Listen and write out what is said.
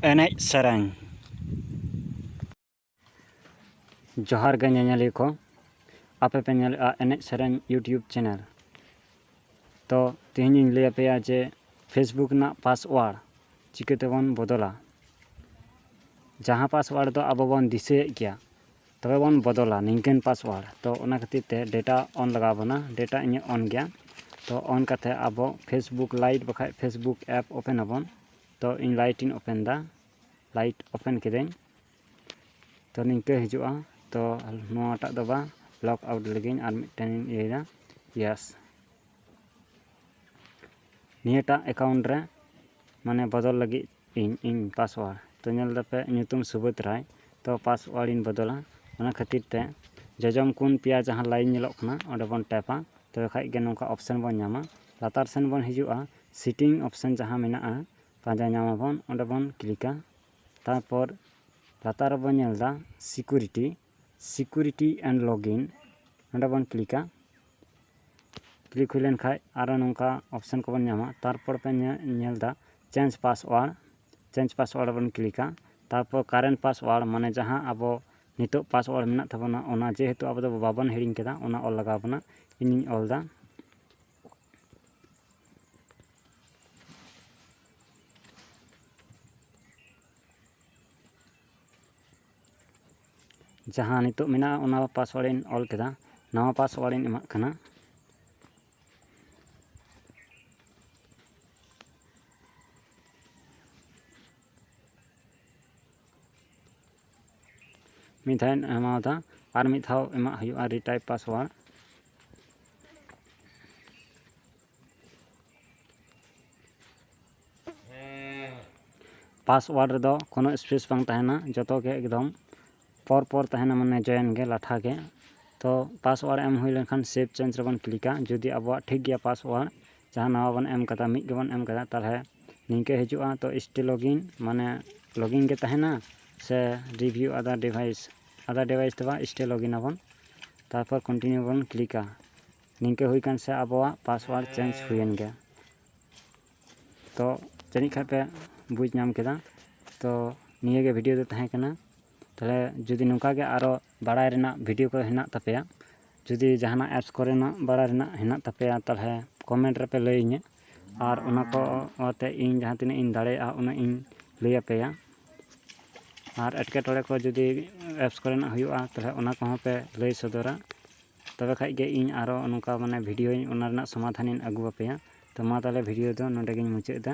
ᱮᱱᱮᱡ ᱥᱮᱨᱮᱧ ᱡᱚᱦᱟᱨ ᱜᱮ ᱧᱮᱧᱮᱞᱤᱭᱟᱹ ᱠᱚ ᱟᱯᱮ ᱯᱮ ᱧᱮᱞᱮᱫᱼᱟ ᱮᱱᱮᱡ ᱥᱮᱨᱮᱧ ᱤᱭᱩᱴᱤᱭᱩᱵᱽ ᱪᱮᱱᱮᱞ ᱛᱚ ᱛᱮᱦᱮᱧᱤᱧ ᱞᱟᱹᱭ ᱟᱯᱮᱭᱟ ᱡᱮ ᱯᱷᱮᱥᱵᱩᱠ ᱨᱮᱱᱟᱜ ᱯᱟᱥᱚᱣᱟᱨᱰ ᱪᱤᱠᱟᱹ ᱛᱮᱵᱚᱱ ᱵᱚᱫᱚᱞᱟ ᱡᱟᱦᱟᱸ ᱯᱟᱥᱚᱣᱟᱨᱰ ᱫᱚ ᱟᱵᱚ ᱵᱚᱱ ᱫᱤᱥᱟᱹᱭᱮᱫ ᱜᱮᱭᱟ ᱛᱚᱵᱮ ᱵᱚᱱ ᱵᱚᱫᱚᱞᱟ ᱱᱤᱝᱠᱟᱹᱱ ᱯᱟᱥᱣᱟᱨᱰ ᱛᱚ ᱚᱱᱟ ᱠᱷᱟᱹᱛᱤᱨ ᱛᱮ ᱰᱮᱴᱟ ᱚᱱ ᱞᱟᱜᱟᱣ ᱵᱚᱱᱟ ᱰᱮᱴᱟ ᱤᱧᱟᱹᱜ ᱚᱱ ᱜᱮᱭᱟ ᱛᱚ ᱚᱱ ᱠᱟᱛᱮ ᱟᱵᱚ ᱯᱷᱮᱥᱵᱩᱠ ᱞᱟᱭᱤᱴ ᱵᱟᱠᱷᱟᱡ ᱯᱷᱮᱥᱵᱩᱠ ᱮᱯ ᱳᱯᱮᱱ ᱟᱵᱚᱱ ᱛᱚ ᱤᱧ ᱞᱟᱭᱤᱴ ᱤᱧ ᱳᱯᱮᱱ ᱮᱫᱟ ᱞᱟᱭᱤᱴ ᱳᱯᱮᱱ ᱠᱤᱫᱟᱹᱧ ᱛᱚ ᱱᱤᱝᱠᱟᱹ ᱦᱤᱡᱩᱜᱼᱟ ᱛᱚ ᱱᱚᱣᱟᱴᱟᱜ ᱫᱚ ᱵᱟᱝ ᱞᱚᱠ ᱟᱣᱩᱴ ᱞᱟᱹᱜᱤᱫ ᱟᱨ ᱢᱤᱫᱴᱮᱱ ᱤᱧ ᱤᱭᱟᱹᱭᱮᱫᱟ ᱭᱮᱥ ᱱᱤᱭᱟᱹᱴᱟᱜ ᱮᱠᱟᱣᱩᱱᱴ ᱨᱮ ᱢᱟᱱᱮ ᱵᱚᱫᱚᱞ ᱞᱟᱹᱜᱤᱫ ᱤᱧ ᱤᱧ ᱯᱟᱥᱚᱣᱟᱲ ᱛᱚ ᱧᱮᱞ ᱮᱫᱟᱯᱮ ᱧᱩᱛᱩᱢ ᱥᱩᱵᱳᱫᱽ ᱨᱟᱭ ᱛᱚ ᱯᱟᱥᱚᱣᱟᱲ ᱤᱧ ᱵᱚᱫᱚᱞᱟ ᱚᱱᱟ ᱠᱷᱟᱹᱛᱤᱨ ᱛᱮ ᱡᱚᱡᱚᱢ ᱠᱳᱱ ᱯᱮᱭᱟ ᱡᱟᱦᱟᱸ ᱞᱟᱭᱤᱱ ᱧᱮᱞᱚᱜ ᱠᱟᱱᱟ ᱚᱸᱰᱮ ᱵᱚᱱ ᱴᱮᱯᱟ ᱛᱚᱵᱮ ᱠᱷᱟᱱ ᱜᱮ ᱱᱚᱝᱠᱟ ᱚᱯᱷᱥᱮᱱ ᱵᱚᱱ ᱧᱟᱢᱟ ᱞᱟᱛᱟᱨ ᱥᱮᱱ ᱵᱚᱱ ᱦᱤᱡᱩᱜᱼᱟ ᱥᱤᱴᱤᱝ ᱚᱯᱷᱥᱮᱱ ᱡᱟᱦᱟᱸ ᱢᱮᱱᱟᱜᱼᱟ ᱯᱟᱸᱡᱟ ᱧᱟᱢ ᱟᱵᱚᱱ ᱚᱸᱰᱮ ᱵᱚᱱ ᱠᱞᱤᱠᱟ ᱛᱟᱨᱯᱚᱨ ᱞᱟᱛᱟᱨ ᱨᱮᱵᱚᱱ ᱧᱮᱞ ᱮᱫᱟ ᱥᱤᱠᱩᱨᱤᱴᱤ ᱥᱤᱠᱩᱨᱤᱴᱤ ᱮᱱᱰ ᱞᱚᱜᱤᱱ ᱱᱚᱸᱰᱮ ᱵᱚᱱ ᱠᱞᱤᱠᱟ ᱠᱞᱤᱠ ᱦᱩᱭ ᱞᱮᱱᱠᱷᱟᱡ ᱟᱨᱚ ᱱᱚᱝᱠᱟ ᱚᱯᱥᱮᱱ ᱠᱚᱵᱚᱱ ᱧᱟᱢᱟ ᱛᱟᱨᱯᱚᱨ ᱯᱮ ᱧᱮᱞ ᱮᱫᱟ ᱪᱮᱧᱡᱽ ᱯᱟᱥᱣᱟᱨᱰ ᱪᱮᱧᱡᱽ ᱯᱟᱥᱣᱟᱨᱰ ᱵᱚᱱ ᱠᱞᱤᱠᱟ ᱛᱟᱨᱯᱚᱨ ᱠᱟᱨᱮᱱᱴ ᱯᱟᱥᱣᱟᱨᱰ ᱢᱟᱱᱮ ᱡᱟᱦᱟᱸ ᱟᱵᱚ ᱱᱤᱛᱚᱜ ᱯᱟᱥᱣᱟᱨᱰ ᱢᱮᱱᱟᱜ ᱛᱟᱵᱚᱱᱟ ᱚᱱᱟ ᱡᱮᱦᱮᱛᱩ ᱟᱵᱚ ᱫᱚ ᱵᱟᱵᱚᱱ ᱦᱤᱲᱤᱧ ᱠᱮᱫᱟ ᱚᱱᱟ ᱚᱞ ᱞᱟᱜᱟᱣ ᱵᱚᱱᱟ ᱤᱧᱤᱧ ᱚᱞ ᱮᱫᱟ ᱡᱟᱦᱟᱸ ᱱᱤᱛᱚᱜ ᱢᱮᱱᱟᱜᱼᱟ ᱚᱱᱟ ᱯᱟᱥᱣᱟᱨᱰ ᱤᱧ ᱚᱞ ᱠᱮᱫᱟ ᱱᱟᱣᱟ ᱯᱟᱥᱣᱟᱨᱰ ᱤᱧ ᱮᱢᱟᱜ ᱠᱟᱱᱟ ᱢᱤᱫ ᱫᱷᱟᱣ ᱤᱧ ᱮᱢᱟᱣᱟᱫᱟ ᱟᱨ ᱢᱤᱫ ᱫᱷᱟᱣ ᱮᱢᱟᱜ ᱦᱩᱭᱩᱜᱼᱟ ᱨᱤᱴᱟᱭᱤᱯ ᱯᱟᱥᱣᱟᱨᱰ ᱯᱟᱥᱳᱣᱟᱨᱰ ᱨᱮᱫᱚ ᱠᱳᱱᱳ ᱥᱯᱮᱥ ᱵᱟᱝ ᱛᱟᱦᱮᱱᱟ ᱡᱚᱛᱚ ᱜᱮ ᱮᱠᱫᱚᱢ ᱯᱚᱨ ᱯᱚᱨ ᱛᱟᱦᱮᱱᱟ ᱢᱟᱱᱮ ᱡᱚᱭᱮᱱ ᱜᱮ ᱞᱟᱴᱷᱟ ᱜᱮ ᱛᱚ ᱯᱟᱥᱳᱣᱟᱨᱰ ᱮᱢ ᱦᱩᱭ ᱞᱮᱱᱠᱷᱟᱱ ᱥᱮᱵᱽ ᱪᱮᱧᱡᱽ ᱨᱮᱵᱚᱱ ᱠᱞᱤᱠᱟ ᱡᱩᱫᱤ ᱟᱵᱚᱣᱟᱜ ᱴᱷᱤᱠ ᱜᱮᱭᱟ ᱯᱟᱥᱳᱣᱟᱨᱰ ᱡᱟᱦᱟᱸ ᱱᱟᱣᱟ ᱵᱚᱱ ᱮᱢ ᱠᱟᱫᱟ ᱢᱤᱫ ᱜᱮᱵᱚᱱ ᱮᱢ ᱠᱟᱫᱟ ᱛᱟᱦᱚᱞᱮ ᱱᱤᱝᱠᱟᱹ ᱦᱤᱡᱩᱜᱼᱟ ᱛᱚ ᱥᱴᱤᱞ ᱞᱚᱜᱽ ᱤᱱ ᱢᱟᱱᱮ ᱞᱚᱜᱽ ᱤᱱ ᱜᱮ ᱛᱟᱦᱮᱱᱟ ᱥᱮ ᱨᱤᱵᱷᱤᱭᱩ ᱟᱫᱟᱨ ᱰᱤᱵᱷᱟᱭᱤᱥ ᱟᱫᱟᱨ ᱰᱤᱵᱷᱟᱭᱤᱥ ᱫᱚ ᱵᱟᱝ ᱥᱴᱤᱞ ᱞᱚᱜᱽ ᱤᱱ ᱟᱵᱚᱱ ᱛᱟᱨᱯᱚᱨ ᱠᱚᱱᱴᱤᱱᱤᱭᱩ ᱵᱚᱱ ᱠᱞᱤᱠᱟ ᱱᱤᱝᱠᱟᱹ ᱦᱩᱭ ᱠᱟᱱ ᱥᱮ ᱟᱵᱚᱣᱟᱜ ᱯᱟᱥᱳᱣᱟᱨᱰ ᱪᱮᱧᱡᱽ ᱦᱩᱭᱮᱱ ᱜᱮᱭᱟ ᱛᱚ ᱡᱟᱹᱱᱤᱡ ᱠᱷᱟᱱ ᱯᱮ ᱵᱩᱡᱽ ᱧᱟᱢ ᱠᱮᱫᱟ ᱛᱚ ᱱᱤᱭᱟᱹ ᱜᱮ ᱵᱷᱤᱰᱤᱭᱳ ᱫᱚ ᱛᱟᱦᱮᱸ ᱠᱟᱱᱟ ᱛᱟᱦᱚᱞᱮ ᱡᱩᱫᱤ ᱱᱚᱝᱠᱟ ᱜᱮ ᱟᱨᱚ ᱵᱟᱲᱟᱭ ᱨᱮᱱᱟᱜ ᱵᱷᱤᱰᱤᱭᱳ ᱠᱚ ᱦᱮᱱᱟᱜ ᱛᱟᱯᱮᱭᱟ ᱡᱩᱫᱤ ᱡᱟᱦᱟᱱᱟᱜ ᱮᱯᱥ ᱠᱚᱨᱮᱱᱟᱜ ᱵᱟᱲᱟᱭ ᱨᱮᱱᱟᱜ ᱦᱮᱱᱟᱜ ᱛᱟᱯᱮᱭᱟ ᱛᱟᱦᱚᱞᱮ ᱠᱚᱢᱮᱱᱴ ᱨᱮᱯᱮ ᱞᱟᱹᱭ ᱤᱧᱟᱹ ᱟᱨ ᱚᱱᱟ ᱠᱚ ᱟᱛᱮ ᱤᱧ ᱡᱟᱦᱟᱸ ᱛᱤᱱᱟᱹᱜ ᱤᱧ ᱫᱟᱲᱮᱭᱟᱜᱼᱟ ᱩᱱᱟᱹᱜ ᱤᱧ ᱞᱟᱹᱭ ᱟᱯᱮᱭᱟ ᱟᱨ ᱮᱴᱠᱮᱴᱚᱬᱮ ᱠᱚ ᱡᱩᱫᱤ ᱮᱯᱥ ᱠᱚᱨᱮᱱᱟᱜ ᱦᱩᱭᱩᱜᱼᱟ ᱛᱟᱦᱚᱞᱮ ᱚᱱᱟ ᱠᱚᱦᱚᱸ ᱯᱮ ᱞᱟᱹᱭ ᱥᱚᱫᱚᱨᱟ ᱛᱚᱵᱮ ᱠᱷᱟᱡ ᱜᱮ ᱤᱧ ᱟᱨᱚ ᱱᱚᱝᱠᱟ ᱢᱟᱱᱮ ᱵᱷᱤᱰᱤᱭᱳ ᱚᱱᱟ ᱨᱮᱱᱟᱜ ᱥᱚᱢᱟᱫᱷᱟᱱᱤᱧ ᱟᱹᱜᱩ ᱟᱯᱮᱭᱟ ᱛᱚ ᱢᱟ ᱛᱟᱦᱚᱞᱮ ᱵᱷᱤᱰᱤᱭᱳ ᱫᱚ ᱱᱚᱰᱮ ᱜᱤᱧ ᱢᱩᱪᱟᱹᱫ ᱮᱫᱟ